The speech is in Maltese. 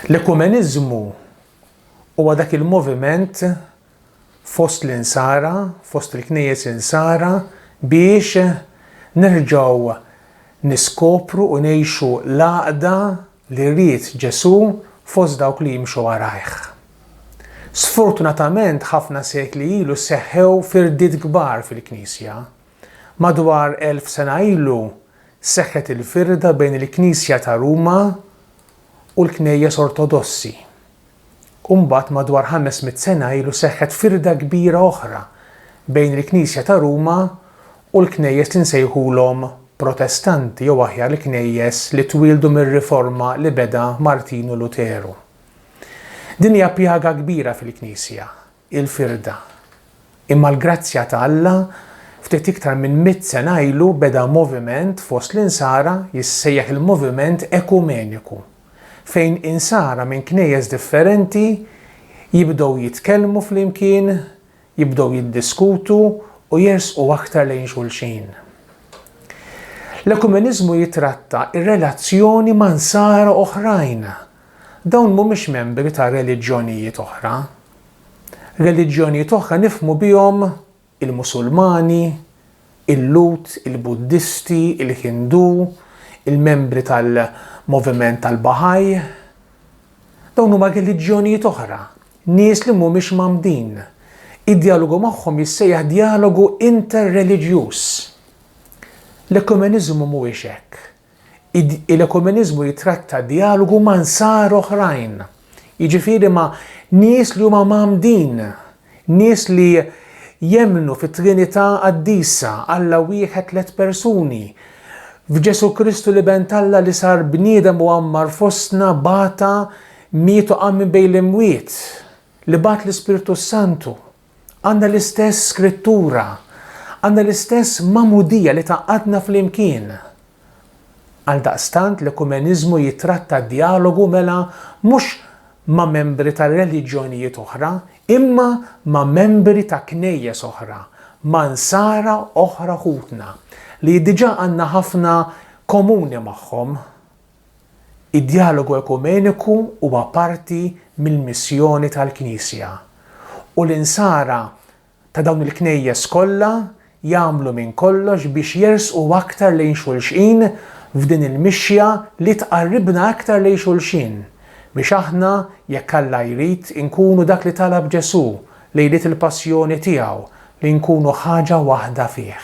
L-ekumeniżmu huwa dak il-moviment fost l-Insara, fost il-Knejjes Insara biex nerġgħu niskopru u ngħixu l-għaqda li ried Ġesù fost dawk li jimxu warajh. Sfortunatament ħafna sekli ilu seħħew firdiet kbar fil-Knisja, Madwar elf sena ilu seħħet il-firda bejn il-Knisja ta' Ruma u l-Knejjes Ortodossi. U mbagħad madwar ħames mitt sena ilu seħħet firda kbira oħra bejn il-Knisja ta' Ruma u l-Knejjes li nsejħulhom Protestanti jew aħjar il-Knejjes li twieldu mir-Riforma li beda Martinu Luteru. Din hija pjaga kbira fil-Knisja, il-firda. Imma l-grazzja ta' Alla, ftit iktar minn mitt sena ilu beda moviment fost l-Insara jissejjaħ il-moviment ekumeniku, fejn Insara minn knejjes differenti jibdew jitkellmu flimkien, jibdew jiddiskutu u jersqu aktar lejn xulxin. L-ekumeniżmu jitratta r-relazzjoni ma' Nsara oħrajn Dawn mhumiex membri ta' reliġjonijiet oħra. Reliġjonijiet oħra nifhmu bihom il-Musulmani, il-Lhud, il-Buddisti, il-Hindu, il-membri tal-moviment tal-Bahá'í. Dawn huma reliġjonijiet oħra, nies li mhumiex mgħammdin. Id-djalogu magħhom jissejjaħ djalogu inter-reliġjuż. L-ekumeniżmu mhuwiex hekk. Id, Il-ekumeniżmu jitratta djalogu ma' Nsara oħrajn, jiġifieri ma' nies li huma mgħammdin, nies li jemmnu fit-Trinità Qaddisa, Alla wieħed tliet persuni, f'Ġesù Kristu l-Iben t'Alla li sar bniedem u għammar fostna, bata, miet u qam minn bejn l-imwiet, li bagħat l-Ispirtu s-Santu. Għandna l-istess Skrittura. Għandna l-istess magħmudija li tgħaqqadna flimkien. Għaldaqstant l-ekumeniżmu jittratta d-djalogu mela mhux ma' membri ta' reliġjonijiet oħra, imma ma' membri ta' Knejjes oħra, ma' Nsara oħra ħutna, li diġà għandna ħafna komuni magħhom. Id-djalogu ekumeniku huwa parti mill-missjoni tal-Knisja, u l-Insara ta' dawn il-Knejjes kollha jagħmlu minn kollox biex jersqu aktar lejn xulxin f'din il-mixja li tqarribna aktar lejn xulxin, biex aħna, jekk Alla jrid, inkunu dak li talab Ġesù lejliet il-Passjoni tiegħu, li nkunu ħaġa waħda fih.